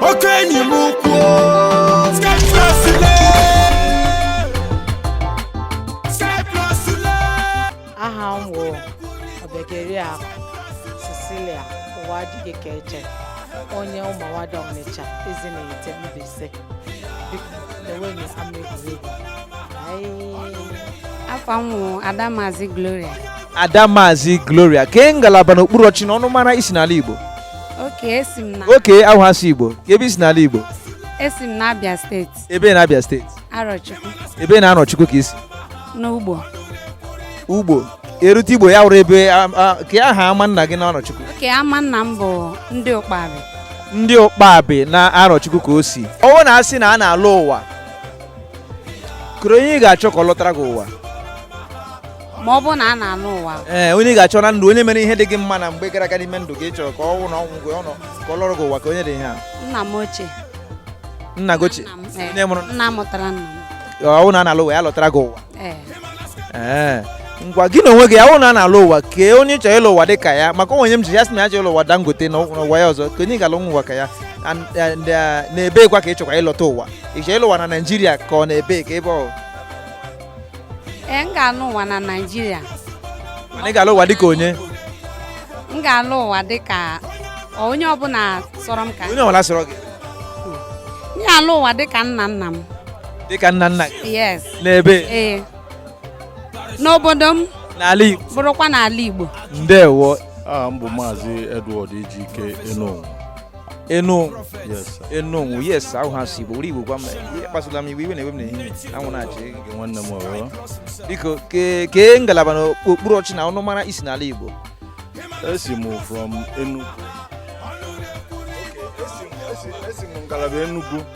oke enyi m ukwu aha m wụ obiageri akụ cecilia ụwa adịghị ka eche onye ụmụawada ọnịcha ezinihitte mbaise biko lewenụ ama egwuregwu aha m wụ ada maazị gloria ada maazị gloria kee ngalaba n'okpuru ọchị na ọnụmara i si n'ala igbo Oke esi m na oke ahụ asụ igbo kee ebe i si n'ala igbo esi m n'Abia steeti ebee na abịa steeti Arọchukwu ebee na arọchukwu ka i si n'ugbo ugbo e rute ugbo ya wụrụ ebee a- a- kee aha ama nna gị na arọchukwu oke ama nna m bụ ndị ụkpabị ndị ụkpabị na arọchukwu ka o si ọ wụ na a sị na a na-alọ ụwa kọrọ onye ị ga-achọ ka ọ lọtara gị ụwa ma ọ bụrụ na a na-alọ ụwa ee onye ị ga-achọ na ndụ onye mere ihe dị gị mma na mgbe gara aga n'ime ndụ gị chọrọ ka ọ nwụ na ọnwụ gị ọnụ ka ọ lọrọ gị ụwa kee onye dị ihe a nna m ochie nna gị ochie nna m, ee, onye mụrụ nna mụtara nna m ọ wụ na a na-alọ ụwa ya lọtara gị ụwa ee ee ngwa gị na onwe gị ọ wụ na a na-alọ ụwa kee onye ị chọrọ ịlọ ụwa dị ka ya maka o nwe onye m jụrụ ya sị na ya chọrọ ịlọ ụwa dangote na ụwa ụwa ya ọzọ kee onye ị ga-alọ nwa ụwa ka ya And- and, eh, n'ebeekwa ka ị chọkwa ịlọta ụwa ị chọrọ ịlọ ụwa na naijiria ka ọ n'ebee ka ebe ọ ee m ga-alọ ụwa na naijiria mana ị ga-alọ ụwa dịka onye m ga-alọ ụwa dịka onye ọbụla sọrọ m ka onye ọbụla sọrọ gị m ga-alọ ụwa dịka nna nna m dịka nna nna gị yes n'ebee n'obodo m n'ala Igbo bụrụkwa n'ala igbo ndewo aha m bụ maazị edward ejike enonwu enu enu yes ahụ ha si bụ igbo gwa m kpasụla m iwe iwe na-ewe m n'ehihie anwụ na-acha gị nwanne m ọrụ biko kee ngalaba na okpuru ọchị na ọnụmara i si n'ala igbo esi m from Enugu esi m ngalaba Enugu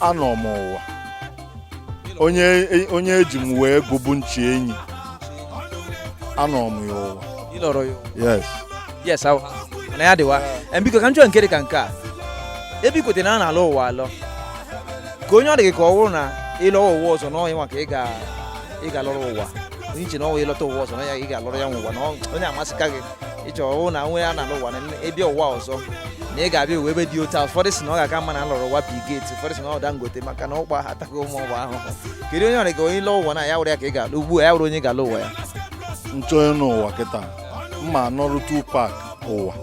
anọ m ụwa onye onye eji m wee gụbụ nchi enyi anọ m ya ụwa Ị nọrọ ya ụwa. yes yes ahụ na ya dịwa Em, biko ka m chọọ nke dị ka nke a ebe i kwetara na a na-alọ ụwa alọ kee onye ọ dị gị ka ọ bụrụ na ị lọwa ụwa ọzọ na ọ nwa ka ị ga ị ga-alọrọ ụwa onye i che na ọ nwa ị lọta ụwa ọzọ na ya ị ga-alọrọ ya nwa ụwa na ọ- onye a masịka gị i che ọ wụ na nwere a na-alọ ụwa na ị bịa ụwa ọzọ na ị ga-abịa ụwa ebe dị otu a ụfọdụ sị na ọ ga-aka mma na a lọrọ ụwa bill gate ụfọdụ sị na ọ dangote maka na ụkpa ataghị ụmụ ụwa ahụ kedu onye ọrịa ka onye lọọ ụwa na ya were ya ka ị ga-alọ ugbu a ya were onye ị ga-alọ ụwa ya nchọnye n'ụwa kịta m ma alọrọ tupac ụwa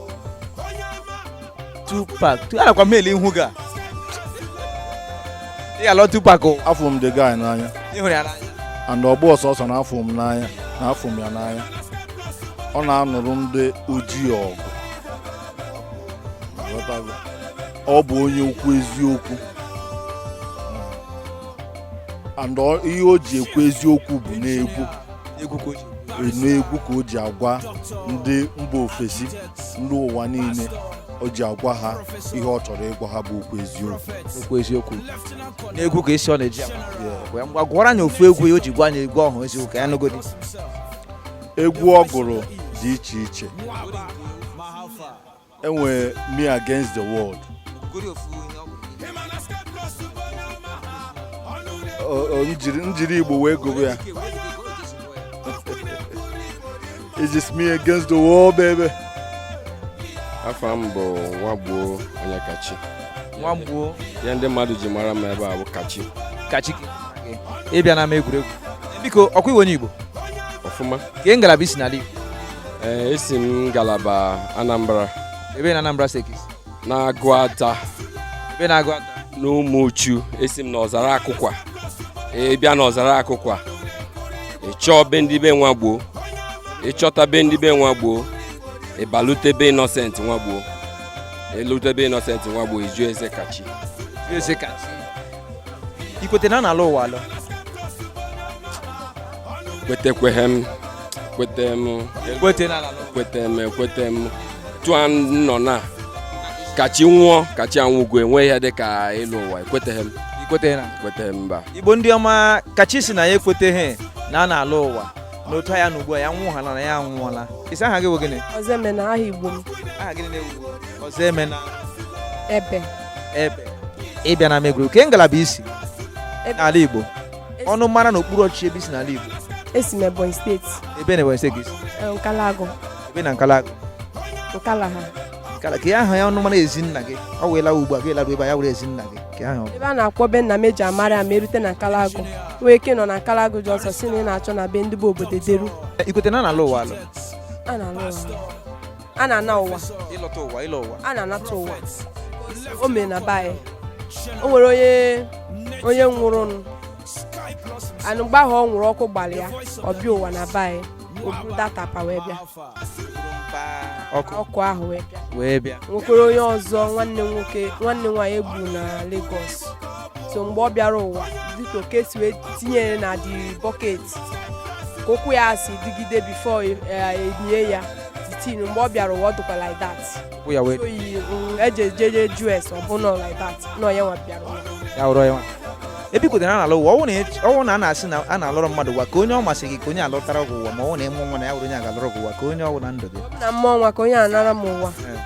Tupac tu anakwa m ele ihu gị a ị ga-alọ Tupac o afụ m the guy n'anya ị hụrụ ya n'anya and ọ bụrọ sọsọ na afụ m n'anya na afụ m ya n'anya ọ na-anụrụ ndị ojii ọgụ Ị ghọtago? ọ bụ onye okwu eziokwu and ọ- ihe o ji ekwu eziokwu bụ n'egwu egwu ka o ji n'egwu ka o ji agwa ndị mba ofesi ndị ụwa niile o ji agwa ha ihe ọ chọrọ ịgwa ha bụ okwu eziokwu okwu eziokwu n'egwu ka esi ọ na-eji ngwa gwara anyị ofu egwu ya o ji gwa anyị egwu ọhụụ eziokwu ka anyị nụgodi egwu ọ gụrụ dị iche iche e nwere me against the world njiri igbo wee gụrụ ya It's just me against the world, baby. Afa m bụ Nwagbuo Onyekachi. Nwagbuo. Ihe ndị mmadụ ji mara m ebe a bụ Kachi. Kachi. Ị bịa n'ama egwuregwu. Biko, ọkwa ị wụ onye Igbo? Ọfụma. Kee ngalaba i si n'ala Igbo? Ee, eh, esi m ngalaba Anambra. Ebee na Anambra steeti? n'agụata ebee n'agụata n'ụmụchu esi m na ọzara akụkwa ị bịa na ọzara akụkwa ị chọọ be ndị be nwagboo ị chọta be ndị be nwagboo ị balute be innocent nwagboo i lute be innocent nwagboo ị jụọ eze kachi Eze ka i kwete na a na-alọ ụwa alọ kwetekweghị m kwete m kwete na a na-alụ ụwa. kwete m ekwete m tụọ nọ na kachi nwụọ kachi anwụgo enweghị ihe dị ka ịlọ ụwa ekweteghị m i kwete na ekweteghị m mba igbo ndị ọma kachi sị na ya ekweteghị na a na-alọ ụwa na otu ya na ugbu a ya nwụhala na ya anwụọla ị sị aha gị bụ gịnị ọzọemena aha igbo m aha gịnị na-ewu ọzọemena ebe ebe ị bịa n'ama egwuregwu kee ngalaba i si n'ala igbo ọnụmara na okpuru ọchịchị ebe i si n'ala igbo esi m ebonyi steeti ebee na ebonyi steeti eh, nkalagu ebee na nkalagu nkalaha nkala ka ya aha ya ọnụmara ezi nna gị ọ wee lawa ugbu a gị larụ ebe a ya were ezi nna gị ka ya ebe a na-akpọ be nna m e ji amara ya ma e rute na nkalagu nwee ike nọ na nkalagu junction sị na ị na-achọ na be ndị bụ obodo deru i kwete na a na-alọ ụwa alọ a na-alọ ụwa a na-ana ụwa ịlọta ụwa ịlọ ụwa a na-anata ụwa o mere na be anyị o nwere onye onye nwụrụnụ anwụ mgbe ahụ ọ nwụrụ ọkụ gbalị ya ọ bịa ụwa na be anyị o buru that apa wee bịa ọkụ ọkụ ahụ wee bịa wee bịa nwekwara onye ọzọ nwanne m nwoke nwanne m nwaanyị egbu na Lagos so mgbe ọ bịara ụwa dịka e si wee tinye ya na the bucket ka ụkwụ ya si dịgide before e nie ya tin mgbe ọ bịara ụwa ọ dịkwa like that Wụ ya wee oyi mm, eji ejeje just ọ bụ nọ like that nọ ya nwa bịara ụwa ya wụrụ ya nwa. ebe i kwetere a na-alọ ụwa ọ wụ na ech- ọ wụ na a na-asị na a na-alọrọ mmadụ ụwa ka onye ọ masị gị ka onye lọtara gị ụwa ma ọ wụ na ị mụ nwa na ya wụrụ onye ga-alọrọ gị ụwa ka onye ọ wụ na ndụ gị na mma ọnwa ka onye alọrọ m ụwa Eh.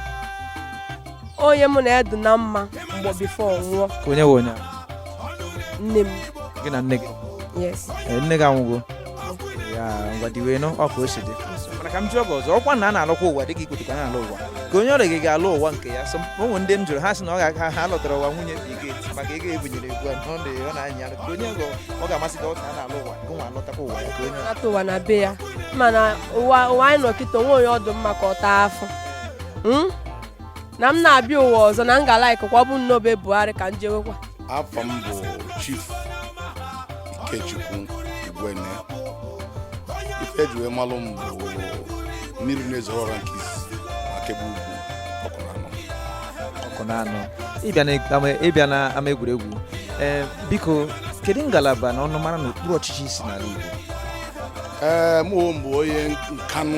onye mụ na ya dị na mma mgbe before ọ nwụọ ka onye wụ onye ahụ. nne m gị na nne gị yes Eh, nne gị anwụgo ya ngwa diwe nụ ọ ka o si dị mana ka m jụọ gị ọzọ ọ kwa na a na-alọkwa ụwa dị ka i kwetekwa na-alọ ụwa ka onye ọrịa gị ga-alọ ụwa nke ya so ụmụ ndị m jụrụ ha sị na ọ ga-aka ha lọtara ụwa nwunye dị gị maka ego ebunyere egwu a ọ dị ọ na-anya ka onye ọgọ ọ ga-amasị gị ọ ka a na-alọ ụwa gị nwa alọtakwa ụwa ya ka onye ata ụwa na be ya mana ụwa ụwa anyị nọ kịta o nwe onye ọ dụ mma ka ọ taa afọ Mm? na m na-abịa ụwa ọzọ na m ga-alike kwa ọ bụ na be Buhari ka m jewekwa afa m bụ chief ikechukwu igwene ife e ji wee malu m bụ mmiri na-ezoro ọra nke i si maka ebe ugwu ọkụ na anọ ọkụ na anọ ị bịa na ama- ị bịa na ama egwuregwu ee biko kedu ngalaba na ọnụmara na okpuru ọchịchị i si n'ala Igbo ee mụ onwe m bụ onye Nkanu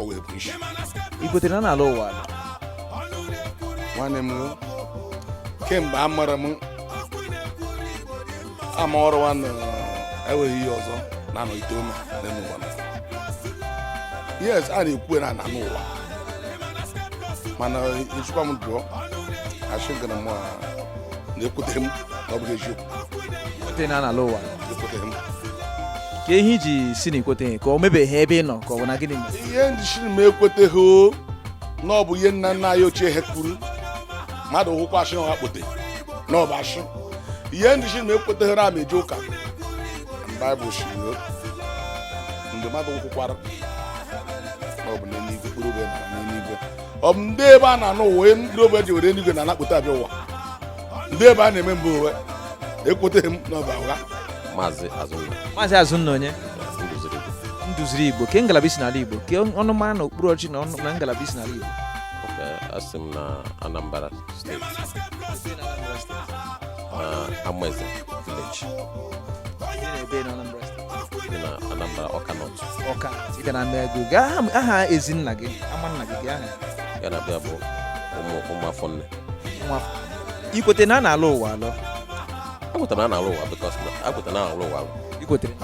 o wee bụ isi i kwetere na a na-alọ ụwa dị? nwanne m o, kemgbe a mara m ama ọrụ nwanne enweghị ihe ọzọ na-anọgide ome n'elu ụwa na yes a na-ekwu na a na-anọ ụwa mana ejikwa m dụọ achị gara m na ekwetere m na ọ bụghị eziokwu na a na-alọ ụwa ke ihe i ji sị na i kweteghị ka o mebeghị ebe ị nọ ka ọ bụ na gịnị mere ihe m ji sị m ekweteghị na ọ bụ ihe nna nna anyị ochie ha kwuru mmadụ hụkwa ashị ọha kpote na ọ bụ ashị ihe m ji sị m ekweteghị na m eje ụka baịbụl sị mgbe mmadụ nwụkwara ọ bụ n'eluigwe kpụrụ obe na n'eluigwe ọ bụ ndị ebe a na-anọ ụwa ndị obe ji were eluigwe na-apụta abịa ụwa ndị ebe a na-eme mba ụwa ekweteghị m na ọ bụ ụgha maazị azụnna maazị azụnna onye ndụziri ndụziri igbo ke ngalaba i si n'ala igbo ke ọnụmara na okpuru ọchị na ọnụ na ngalaba i si n'ala igbo esi m na anambra steeti amaeze village na anambra Ọka North ọka ị ga na ama ego gaa aha ezinna gị ama nna gị gị aha ya na-abịa bụ ụmụ ụmụ afọ nne ikwete na a na-alụ ụwa alụ akwetara na alụ ụwa bikos akwetara na alụ ụwa ikwetere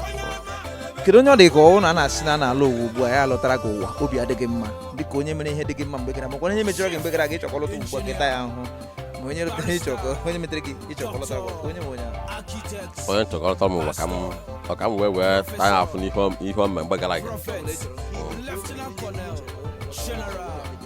kedu onye ọ dị ka ọ wụ na a na-asị na a na-alụ ụwa ugbu a ya alụtara gị ụwa obi adịghị mma dịka onye mere ihe dị gị mma mgbe gara makwa onye mejọrọ gị mgbe gara aga ịchọkọ lụta ugbu a kịta ya ahụ ma onye lụtara ịchọkọ onye metere gị ịchọkọ lụtara gị onye nwe onye ahụ onye ntụkọrịta m ụwa ka m ọ ka m wee wee taa ya afụ n'ihe ọ- ihe ọ mere mgbe gara aga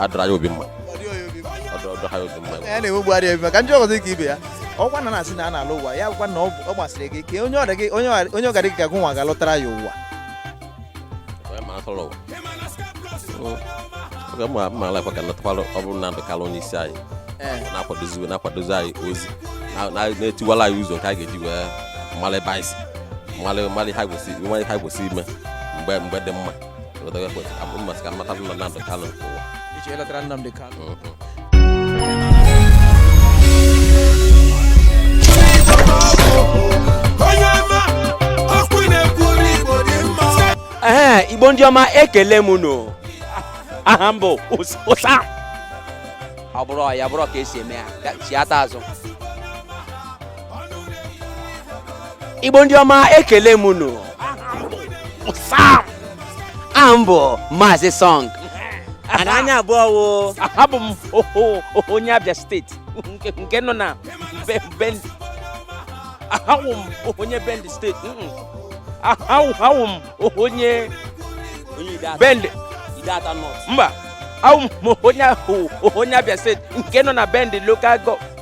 adọrọ ya obi mma ọdọha ya obi mma ya na-enwe gbugharị ebi maka ndị ọgọdọ dịka ibe ya ọ kwa na na-asị na a na-alụ ụwa ya bụkwa na ọ ọ gbasịrị gị ka onye ọrịa gị onye ọrịa- onye ọgarị gị ka gụnwa ga-alụtara ya ụwa onye ma atụrụ ụwa oge mma mma alakwa ka natakwara ọ bụrụ na ndụkara onye isi anyị Ee. na-akwadozi na-akwadozi anyị ozi na- na- na-etiwala anyị ụzọ nke anyị ga-eji wee mara ebe anyị si mara mara ihe anyị kwesịrị mara ihe anyị kwesịrị ime mgbe mgbe dị mma ee igbo ndị ọma ekele m unu aha m bụ ụsa ọ bụrụ ya bụrụ ka e si eme ya chiata azụ igbo ndị ọma ekele m unu aha m bụ maazị song ana anya abụọ wo abụ m onye abịa steeti nke nọ na Bende awụ m onye Bende steeti awụ m onye Bende mba awụ m onye abịa steeti nke nọ na Bende lokal gọọmenti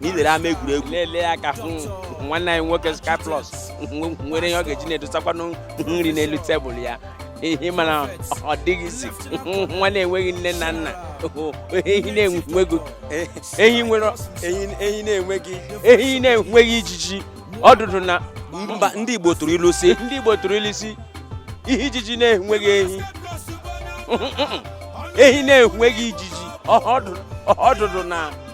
na i lere ama egwuregwu na-enye aka hụ nwanne anyị nwoke Sky Plus nwere ihe ọ ga-eji na-edosakwanụ nri n'elu tebụl ya ihe mana ọ dịghịzi nwa na-enweghị nne na nna ehi na-enweghị ehi nwere ehi na-enweghị ehi na-enweghị ijiji ọdụdụ na mba ndị Igbo tụrụ ilu si ndị Igbo tụrụ ilu si ihe ijiji na-enweghị ehi ehi na-enweghị ijiji ọdụdụ na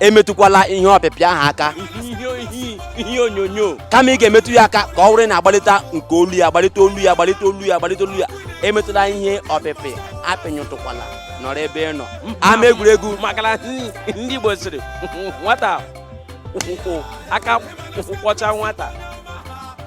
emetụkwala ihe ọpịpị ahụ aka ihe onyonyo kama ị ga-emetụ ya aka ka ọ wụrụ na-agbalịta nke olu ya agbalịta olu ya agbalịta olu ya agbalịta olu ya emetụla ihe ọpịpị apịnyụtụkwala nọrọ ebe ị nọ ama egwuregwu maka na ndị Igbo sịrị nwata aka kwọ- kwọcha nwata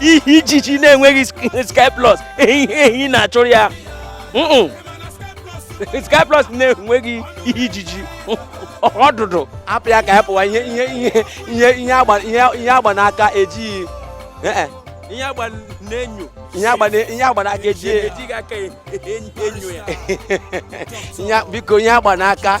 ihe ijiji na-enweghị sky plus ehi ehi na-achụrụ ya sky plus na-enweghị ihe ijiji ọdụdụ hapụ ya ka ya pụwa ihe ihe ihe ihe ihe agba ihe ihe agba n'aka ejighị eh, eh. ihe agba n'enyo ihe agba na- ihe agba n'aka ejighị ejighị aka enyo ya ihe biko ihe agba n'aka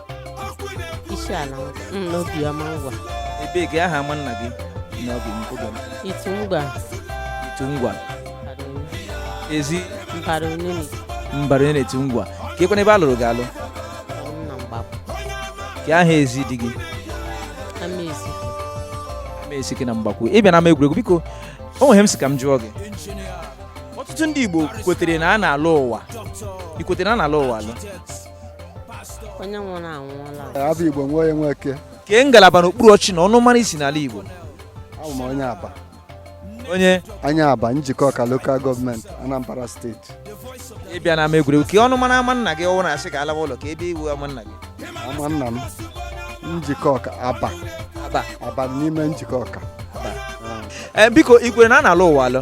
isi ala ngwa Mm, n'obi ọma ngwa ebee kee aha ama nna gị na obi m obi m itu ngwa itu ngwa ezi mbara onini mbara onye n'itu ngwa keekwanụ ebe a lụrụ gị alụ na mgbakwu kee aha ezi di gị ama ezi amaezike na mgbakwu ị bịa n'ama egwuregwu biko o nwe ihe m sị ka m jụọ gị ọtụtụ ndị igbo kwetere na a na-alọ ụwa i kwetere na a na-alọ ụwa alọ onye nwụrụ anwụọla abụ igbo nwoye nweke kee ngalaba n'okpuru ọchị na ọnụmara i si n'ala igbo abụ m onye abba onye onye abba njikọka lokal gọọmenti anambra steeti ị bịa n'ama egwuregwu kee ọnụmara ama nna gị ọ wụ na a sị ka a lawa ụlọ kee ebe wụ ama nna gị ama nna m njikọka abba abba abba n'ime njikọka ee biko i kwere na a na-alọ ụwa alọ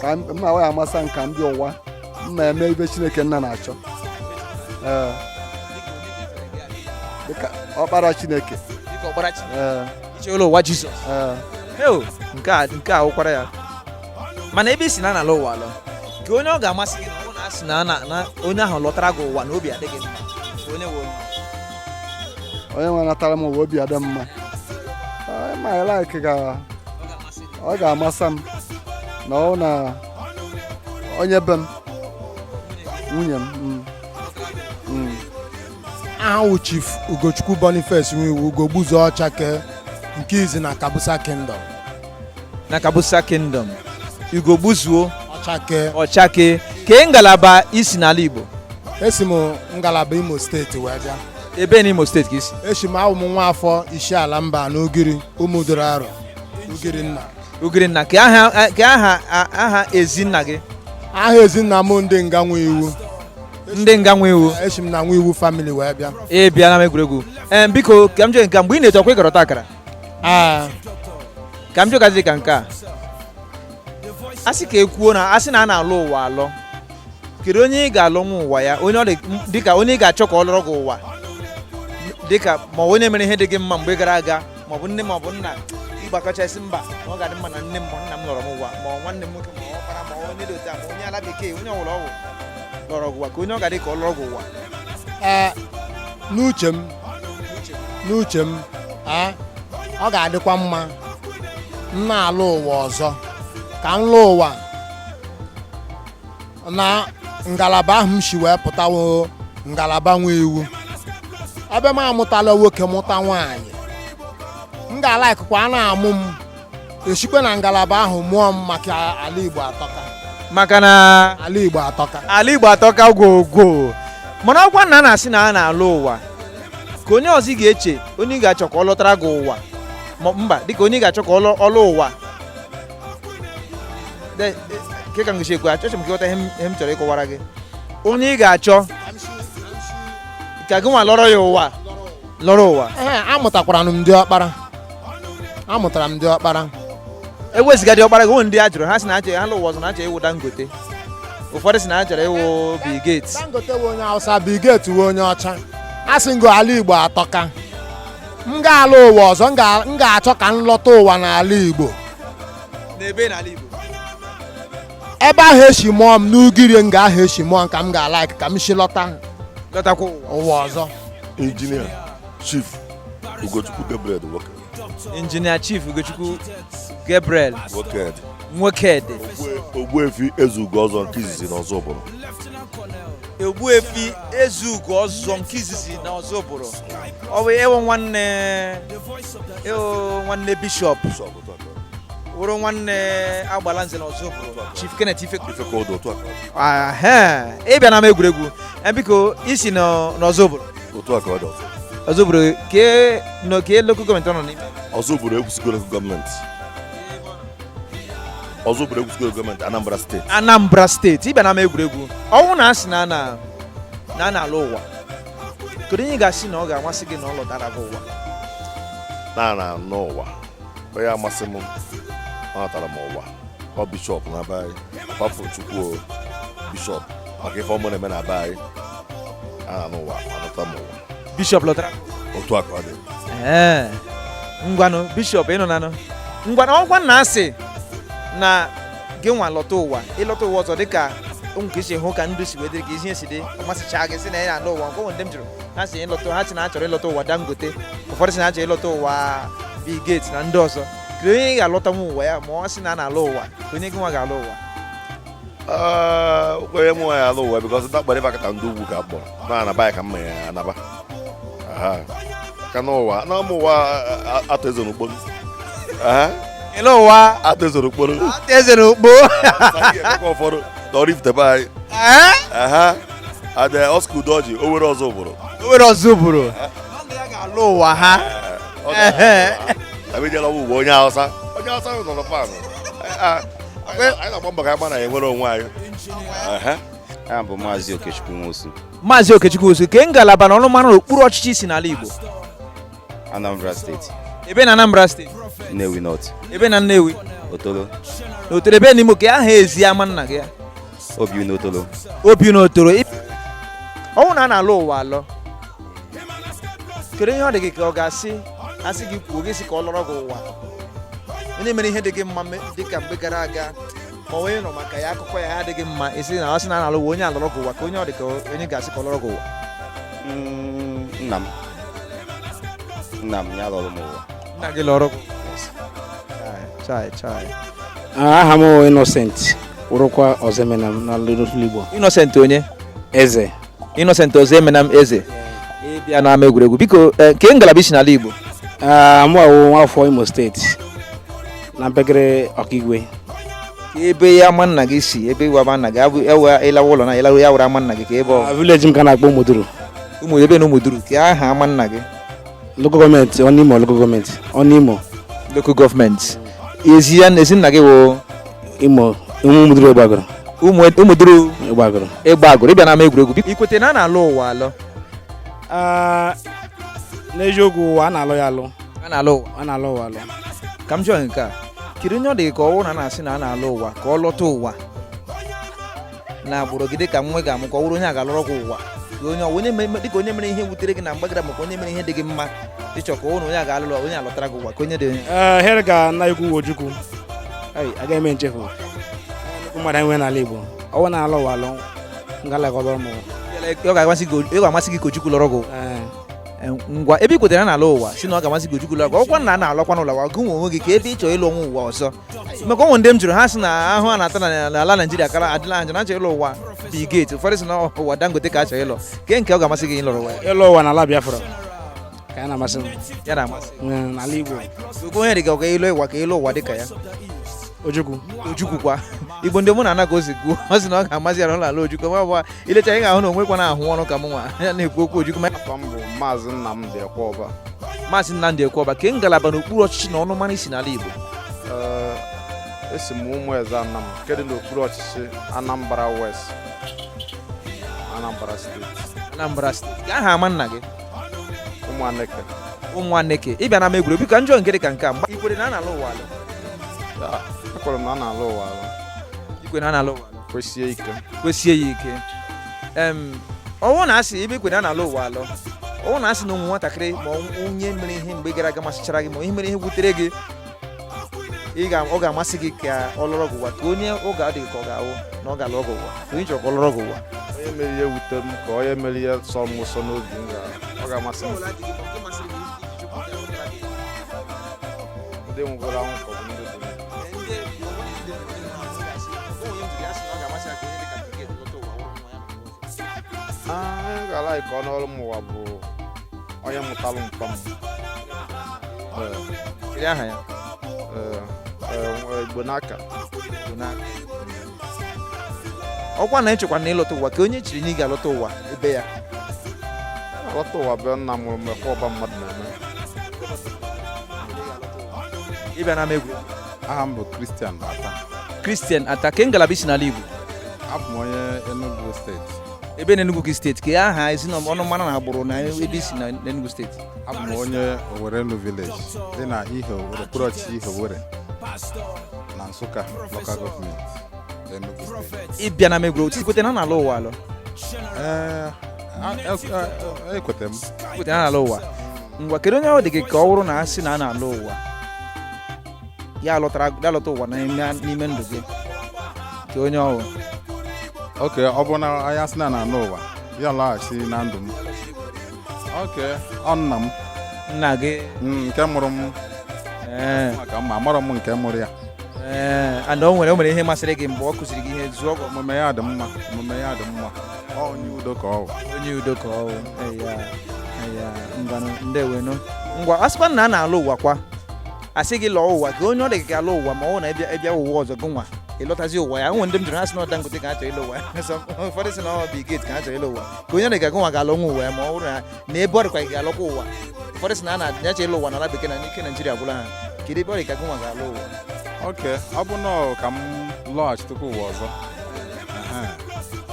ka m awaghị amasa nke ndị ụwa m na-eme ibe chineke nna na-achọ ee dịka ọkpara chineke dịka ọkpara Chineke ee icheola ụwa Jizọs ee heo nke a nke a wụkwara ya mana ebe i si na a na-alọ ụwa alọ kee onye ọ ga-amasị gị na ọ na asị na na- na onye ahụ lọtara gị ụwa na obi adị gị mma kee onye wụ onye nwe natara m ụwa obi adị mma Ee, ma ya like ga ọ ga-amasa m na ọ na onye be m nwunye m mm. Mm. aha wụ chief ugochukwu boniface nwiwu ugogbuzuo ọchake nke izi na kabusa kingdom na kabusa kingdom ugogbuzuo ọchake ọchake kee ngalaba i si n'ala igbo esi m ngalaba imo steeti wee bịa ebee n'imo steeti ka i si esi m awụ m nwa afọ isiala mbano ugiri ụmụduru arọ Ugirinna Ugirinna kee aha kee aha aha ezinna gị aha ezinna m ndị nga nwiwu ndị nga nwiwu esi m na nwiwu famili wee bịa ị bịa n'ama egwuregwu ee biko ka m jee nke a, mgbe ị na-eto ọkwa ị gara ọtakara Ee, ka m jụgazi ka nke a a sị ka e kwuo na a sị na a na-alọ ụwa alọ kedu onye ị ga-alọ n'ụwa ya onye ọ dị dịka onye ị ga-achọ ka ọ lọọrọ gị ụwa dịka ma ọ wụ onye mere ihe dị gị mma mgbe gara aga maọbụ nne maọbụ nna ịgbakọchasị mba ma ọ ga-adị mma na nne m ma nna m lọrọ m ụwa ma nwanne m nwoke ma ọkpara ma onye dị otu ma onye ala bekee onye ọwụla ọ wụ lọrọ gị ụwa kee onye ọ ga-adị ka ọ lọrọ gị ụwa n'uche m n'uche m ọ ga-adịkwa mma m na-alọ ụwa ọzọ ka m lọọ ụwa na ngalaba ahụ m si wee pụta ụwa ngalaba nwe iwu ebe m amụtala nwoke mụta nwaanyị m ga-alikekwa a na-amụ m e sikwa na ngalaba ahụ mụọ m maka ala Igbo atọka maka na ala Igbo atọka ala Igbo atọka gwogwo mana ọkwa na a na-asị na a na-alọ ụwa ka onye ọzọ ị ga-eche onye ị ga-achọ ka ọ lọtara gị ụwa mba dịka onye ị ga-achọ ka ọ lọ ụwa nke ka m ga-esi ekwu achọrọ m ka ị ghọta ihe m chọrọ ịkọwara gị onye ị ga-achọ ka gị nwa lọrọ ya ụwa lọrọ ụwa amụtakwara m di ọkpara amụtara m di ọkpara ewezuga di ọkpara gị o nwere ndị a jụrụ ha sị na achọ ha lọ ụwa ọzọ na achọ ịwụ Dangote ụfọdụ sị na achọrọ ịwụ Bill Gates Dangote wụ onye Hausa Bill Gates wụ onye ọcha a sị ngo ala Igbo atọka m ga-ala ụwa ọzọ m ga- m ga-achọ ka m lọta ụwa n'ala igbo n'ebe n'ala igbo ebe ahụ e si mụọ m n'ugiri nga ahụ e si mụọ m ka m ga-alike ka m si lọta lọtakwa ụwa ụwa ọzọ injinia chief ugochukwu gabriel nwoke injinia chief ugochukwu gabriel nwoke nwokedi ogbuefi ezeugo ọzọ nke izizi na ozubulu Ogbuefi Ezeugo ọzọ nke izizi na Ozubulu ọ bụ ị wụ nwanne ị wụ nwanne bishọp wụrụ nwanne Agbalanze na Ozubulu Chief Kenneth Ifekudu ị bịa na ama egwuregwu e, biko i si n'Ozubulu Ozubulu kee lokal gọọmenti ọ nọ n'ime Ozubulu Ekwusigo lokal gọọmenti Ozubulu Ekwusigo gọọmenti Anambra steeti Anambra steeti ị bịa na ama egwuregwu ọ wụ na a sị na na a na-ala ụwa kedu onye ị ga-asị na ọ ga-amasị gị na ọ lọtara gị ụwa na na n'ụwa onye amasị m ọ natara m ụwa ọ bishọp na be anyị kwafụ chukwu bishọp maka ife ọma ọ na-eme na be anyị a na n'ụwa anata m ụwa bishọp lọtara otu a ka ọ dị ee ngwanụ bishọp ị nọ na-anụ ngwanụ ọkwa na a sị na gị nwa lọta ụwa ị lọta ụwa ọzọ dịka ụmụ ka i si hụ ka ndụ si wee dịrị ka ihe si dị ọ masịchaa gị sị na ị na-ala ụwa nke ụmụ ndị m jụrụ ha sị ịlọta ha sị na achọrọ ịlọta ụwa Dangote ụfọdụ sị na achọrọ ịlọta ụwa Bill Gates na ndị ọzọ kedu onye ị ga-alọtanwu ụwa ya ma a sị na a na-ala ụwa ka onye gị nwa ga-ala ụwa Ah, okpere m nwaanyị ala ụwa bikọs ndị akpọrọ ịbakọta ndị ugwu ka akpọrọ na anaba ya ka mma ya anaba ka n'ụwa na ụmụ ụwa Arthur Eze na Ukpo ele ụwa Arthur Eze na Ukpo Arthur Eze na Ukpo ụfọdụ tọrọ ifutebe anyị ada Oscar Udoji o nwere Ozubulu o nwere Ozubulu alọ ụwa ha abịjela ụwa ugbo onye hausa onye hausa nọ na pan anyị na-agba mbọ ka anyị gbara ya nwere onwe anyị aha m bụ maazị okechukwu nwosu maazị okechukwu nwosu kee ngalaba na ọnụmara n'okpuru ọchịchị i si n'ala igbo anambra steeti ebe na anambra steeti nnewi north ebe na nnewi otolo na otolo ebe n'ime kee aha ezi ama nna gị ya obiụnọ otolo obiụnọ otolo ọ wụ na a na-alọ ụwa alọ kedu onye ọ dị gị ka ọ ga-asị a sị gị kwuo gị sị ka ọ lọrọ gị ụwa onye mere ihe dị gị mma dị ka mgbe gara aga ma onye ị nụ maka ya akụkọ ya adị gị mma ị sị na ọ sị na a na-alọ ụwa onye a lọrọ gị ụwa kee onye ọ dị ka onye ị ga-asị ka ọ lọrọ gị ụwa mm, nna m nna m ya lọrọ m ụwa nna gị lọrọ gị chai chai aha m bụ Innocent wụrụkwa Ọzọemenam na Little Igbo Innocent onye eze Innocent Ọzọemenam eze ị bịa n'ama egwuregwu biko eh, kee ngalaba i si n'ala Igbo Ah, mụ awụ nwafọ Imo steeti na mpekere Ọkigwe kee ebe ya ama nna gị si ebe iwe ama nna gị abụ ebe ị lawa ụlọ na ị lawa ya were ama nna gị kee ebe ọ Ah, vileji m ka a na-akpọ Ụmụduru ụmụ ebe na Ụmụduru kee aha ama nna gị Local gọọmenti Ọnụimo local gọọmenti Ọnụimo. Local gọọmenti. Ezi ya ezi nna gị wụ. Imo Ụmụduru Egbeaguru. Ụmụduru. Egbeaguru. Egbeaguru ị bịa n'ama egwuregwu. I kwete na a na-alọ ụwa alọ. Ah, n'eziokwu ụwa a na-alọ ya alọ. A na-alọ ụwa. A na-alọ ụwa alọ. Ka m jụọ nke a. Kedu onye ọ dị ka ọ wụ na na-asị na a na-alọ ụwa ka ọ lọta ụwa na agbụrụ gị dịka nwa ị ga-amụ ka ọ wụrụ onye a ga-alọrọ gị ụwa onye ọ wụ onye mere dịka onye mere ihe wutere gị na mgbe gara maka onye mere ihe dị gị mma ị chọ ka ọ wụrụ onye a ga-alọrọ onye a lọtara gị ụwa ka onye dị onye ee here ka nna ukwu Ojukwu Ai, agaghị eme nchefu nnukwu mmadụ anyị nwere n'ala Igbo ọ wụ na a na-alọ ụwa alọ ngalakọba ụmụ ọ ga-amasị gị ọ ga-amasị gị ka Ojukwu lọrọ gị ee Eh, ngwa ebe i kwetara na a na-alọ ụwa sị na ọ ga-amasị gị Ojukwu lọrọ gị ọkwa na a na-alọkwanụ ụwa gị nwa onwe gị kee ebe ị chọrọ ịlọ n'ụwa ụwa ọzọ maka o nwe ndị m jụrụ ha sị na ahụhụ a na-ata na- n'ala naijiria kara adịla anja na ha chọ ịlọ ụwa Bill Gates ụfọdụ sị na ọ- ụwa dangote ka ha chọ ịlọ kee nke ọ ga-amasị gị ịlọrọ ụwa ya? ịlọ ụwa n'ala biafra ka ya na-amasị m ya na-amasị Mm, n'ala igbo ogo onye dị ka ị ga-alọ ụwa ka ị lọ ụwa dị ka ya ojukwu ojukwu kwa igbo ndị mụ na ana ka o si kwuo ọ sị na ọ ga-amasị ya na ịlọ ụwa ojukwu ma ọ bụ i lecha ị ga-ahụ na o nwekwara ahụ ọnụ ka m nwa ya na-ekwu okwu ojukwu ma afa m bụ maazị Nnamdi Ekwọba maazị Nnamdi Ekwọba kee ngalaba n'okpuru ọchịchị na ọnụmara i si n'ala Igbo Ee, esi m Ụmụeze Anam nke dị n'okpuru ọchịchị Anambra West Anambra steeti Anambra steeti kee aha ama nna gị Ụmụaneke Ụmụaneke ị bịa n'ama egwuregwu ka m jụọ nke dị ka nke a mgba i kwere na a na-alọ ụwa alọ Ya, ekwere m na a na-alọ ụwa alọ i kwe na a na-alọ ụwa alọ kwesie ike kwesie ya ike em ọ wụ na a sị ebe i kwere na a na-alọ ụwa alọ ọ wụ na a sị na ụmụ nwatakịrị ma onye mere ihe mgbe gara aga masịchara gị ma onye mere ihe wutere gị ị ga- ọ ga-amasị gị ka ọ lọrọ gị ụwa ka onye ọ ga-adịghị ka ọ ga-awụ na ọ ga-alọrọ gị ụwa ka onye chọrọ ka ọ lọrọ gị ụwa onye mere ihe wute m ka onye mere ihe sọ m ụsọ n'obi m ga- ọ ga-amasị m ndị nwụgoro anwụ ka ọ bụ ndị dị ndụ. onye m ga-alike ka ọ nọọrụ m ụwa bụ onye mụtalụ mpa m Ee, aha ya ee, ee, Igbonaka Igbonaka ọ kwa na i chekwa na ị lọta ụwa kee onye i chere na ị ga-alọta ụwa ebe ya alọta ụwa bịa nna mụrụ mgbe ka ọba mmadụ na-eme ị bịa na egwu aha m bụ Christian Ata Christian Ata kee ngalaba i si n'ala Igbo abụ m onye Enugu steeti ebee na Enugu steeti kee aha ezi na ọnụmara na agbụrụ na ebe i si na Enugu steeti abụ m onye Owerenu village dị na ihe okpuru ọchịchị Ihe Owere na Nsụka local government Enugu steeti ị bịa n'ama egwuru otu i kwete na a na-alọ ụwa alọ ee ekwete m i kwete na a na-alọ ụwa ngwa kedu onye ọ dị gị ka ọ wụrụ na a sị na a na-alọ ụwa ya alọtara ya alọta ụwa n'ime- n'ime ndụ gị kee onye ọ wụ oke ọ bụ na onye a sị na a na-anọ ụwa ya lọghachi na ndụ m oke ọ nna m nna gị Mm, nke mụrụ m ee maka na amarọ m nke mụrụ ya ee and o nwere o nwere ihe masịrị gị mgbe ọ kụziri gị ihe zụọ gị omume ya dị mma omume ya dị mma ọ onye udo ka ọ bụ onye udo ka ọ bụ eya eya ngwanụ ndewonu ngwa a sịkwa na a na-alọ ụwa kwa a sị gị lọọ ụwa kee onye ọ dị gị ka alọ ụwa ma ọ bụ na ị bịa ị bịa ụwa ọzọ gị nwa ị lọtazie ụwa ya o nwe ndị m jụrụ ha sị na ọ Dangote ka ha chọrọ ịlọ ụwa ya So, ụfọdụ sị na ọ bụ Bill Gates ka ha chọrọ ịlọ ụwa kee onye ọ dị ka gụnwa ga-alọkwa ụwa ya ma ọ bụrụ na na ebe ọ dịkwa ị ga-alọkwa ụwa ụfọdụ sị na a na-adịnyacha ịlọ ụwa n'ala bekee na na ike naijiria gwụla ha kedu ebe ọ dị ka gụnwa ga-alọ ụwa oke ọ bụ na ọ ka m lọghachitekwa ụwa ọzọ Ehe.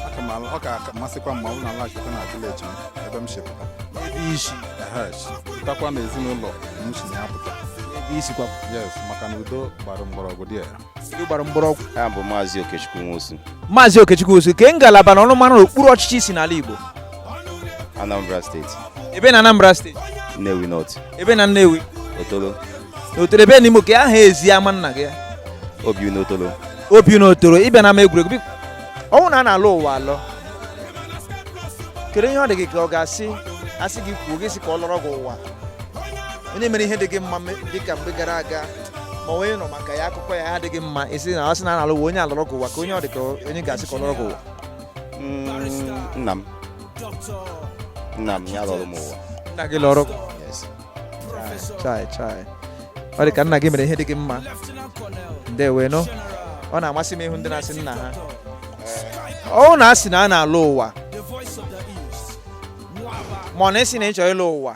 Aka m alụ- ọ ka- ọ ka-amasịkwa m ma ọ bụrụ na m lọghachitekwa na vileji m ebe m si pụta ebe i si Ehe, si pụtakwa na ezinụlọ m si na ya pụta ebe i sikwa yes maka na udo gbara mgbọrọgwụ dị ya udo gbara mgbọrọgwụ aha m bụ maazị okechukwu nwosu maazị okechukwu nwosu kee ngalaba na ọnụmara okpuru ọchịchị i si n'ala igbo anambra steeti ebee na anambra steeti nnewi north ebee na nnewi otolo n'otolo ebee n'ime kee aha ezi ama nna gị ya obiuno otolo obiuno otolo ị bịa n'ama egwuregwu biko ọ wụ na a na-alọ ụwa alọ kedu ihe ọ dị gị ka ọ ga-asị a sị gị kwuo gị sị ka ọ lọrọ gị ụwa onye mere ihe dị gị mma me- dị ka mgbe gara aga ma onye nọ maka ya akụkọ ya adịghị mma ị sị na ọ sị na a na-alọ ụwa onye alọrọ gị ụwa ka onye ọ dị ka onye ga-asị ka ọ lọrọ gị ụwa Mm, nna m nna m ya lọrọ m ụwa nna gị lọrọ gị ụwa. Yes. chai chai ọ dị ka nna gị mere ihe dị gị mma ndewo nụ ọ na-amasị m ịhụ ndị na-asị nna ha ọ na-asị na a na-alọ ụwa ma ọ na-esi na ị chọrọ ịlọ ụwa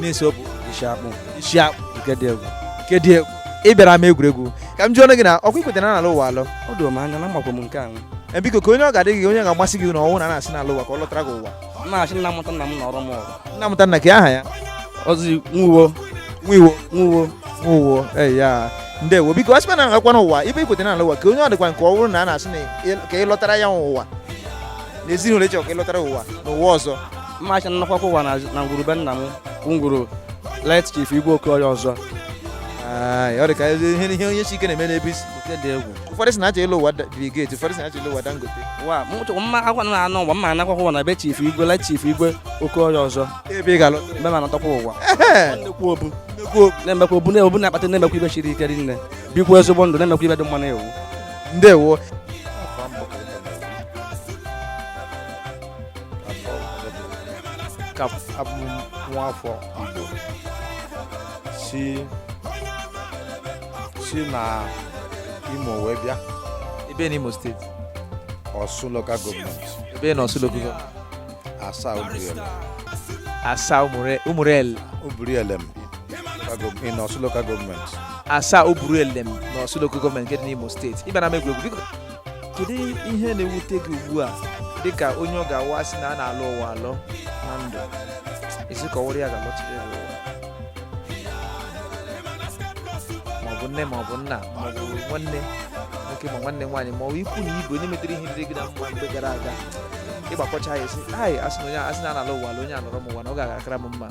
na-esi okwu isi akpụ isi akpụ nke dị egwu nke dị egwu ị bịara ama egwuregwu ka m jụọ ọnụ gị na ọkwa i kweta na a na-alọ ụwa alọ o doro m anya na makwa m nke anwụ e biko kee onye ọ ga-adị gị onye ga-amasị gị na ọ wụ na a sị na a na-alọ ụwa ka ọ lọtara gị ụwa na-achị nna mụta nna m na ọrụ m ọrụ nna mụta nna kee aha ya ozi nwuwo nwuwo nwuwo nwuwo ee ya ndewo biko a sịkwa na agakwa n'ụwa ebe i kweta na a na-alọ ụwa ka onye ọ dịkwa nke ọ bụrụ na a na-asị na ka ị lọtara ya ụwa na ezinụlọ ị chọ ka ị lọtara ụwa n'ụwa ọzọ mmacha nnọkwa ụwa na ngwuru be nna m ngwuru late chief igwe oke ọya ọzọ ọ dị ka ihe onye si ike na-eme n'ebe isi oke dị egwu ụfọdụ sị na ha chọ ịlọ ụwa Bill Gates ụfọdụ sị na ha chọ ịlọ ụwa Dangote wa mụtụ mma akwa na anọ ụwa mma anakwa ụwa na be chief igwe late chief igwe oke ọya ọzọ ebe ị ga-alọ mbe ma anatọkwa ụwa nnekwu obu na-emekwa obu na-ebu na-akpata na-emekwa ibe chiri ike rinne bikwa ezigbo ndụ na-emekwa ibe dị mma na-ewu ndewo ka abụ nwa afọ Igbo si si na Imo wee bịa ebee na Imo steeti Ọsụ local gọọmenti ebee na Ọsụ local gọọmenti Asaa Ubirielem Asaa Ubirielem Ubirielem in Ọsụ local gọọmenti Asaa Ubirielem na Ọsụ local gọọmenti nke dị n'Imo steeti ị bịara ama egwuregwu kedu ihe na-ewute gị ugbu a dịka onye ọ ga-awụ a sị na a na-alọ ụwa alọ na ndụ ị sị ka ọ wụrụ ya ga-alọchiri ya ụwa maọbụ nne maọbụ nna maọbụ nwanne nwoke ma nwanne nwaanyị ma ọ bụ ikwu na ibe onye metere ihe dịrị gị na mma mgbe gara aga ịgbakọcha ya ị sị ai a sị na onye a sị na a na-alọ ụwa alọ onye a lọrọ m ụwa na ọ gaara akara m mma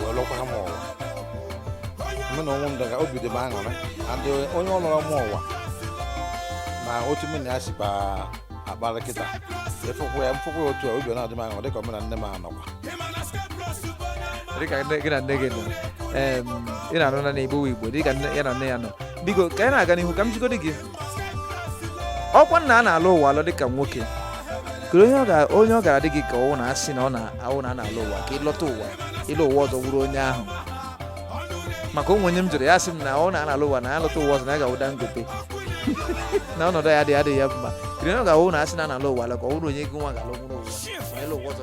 wee lọkwara m ụwa mụ na onwe m daga obi dị m aṅụrị adị onye ọ lọrọ m ụwa na otu mụ na ya sikwa akpara kịta ị fụkwa ya m fụkwa ya otu a obi ọ na-adị m aṅụrị dịka mụ na nne m anọkwa dịka nne- gị na nne gị nọ em, ị na-anụ na igbo igbo dịka nne- ya na nne ya nọ biko ka anyị na-aga n'ihu ka m jụgodi gị ọkwa nna a na-alọ ụwa alọ dịka nwoke kere onye ọ gara dị gị ka ọ wụ na a sị na ọ na-awụ na a na-alọ ụwa ka ị lọta ụwa ị lọ ụwa ọzọ wụrụ onye ahụ maka o nwe onye m jụrụ ya sị m na a na-alọ ụwa na ya lọta ụwa ọzọ na ya ga-awụ Dangote na ọnọdụ ya dị adịghị ya mma kere onye ọ ga-awụ na a sị na a na-alọ ụwa alọ ka ọ wụrụ onye gị nwa ga-alọ wụrụ ụwa ma ị lọ ụwa ọzọ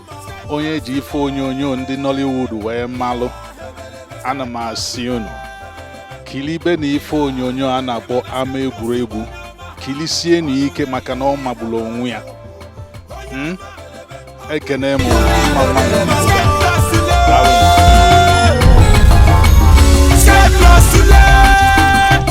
onye e ji ife onyonyo ndị Nollywood wee malụ ana m asị unu kilibe na ife onyonyo a na-akpọ ama egwuregwu kilisienụ ike maka na ọ magbulu onwe ya hmm? ekene m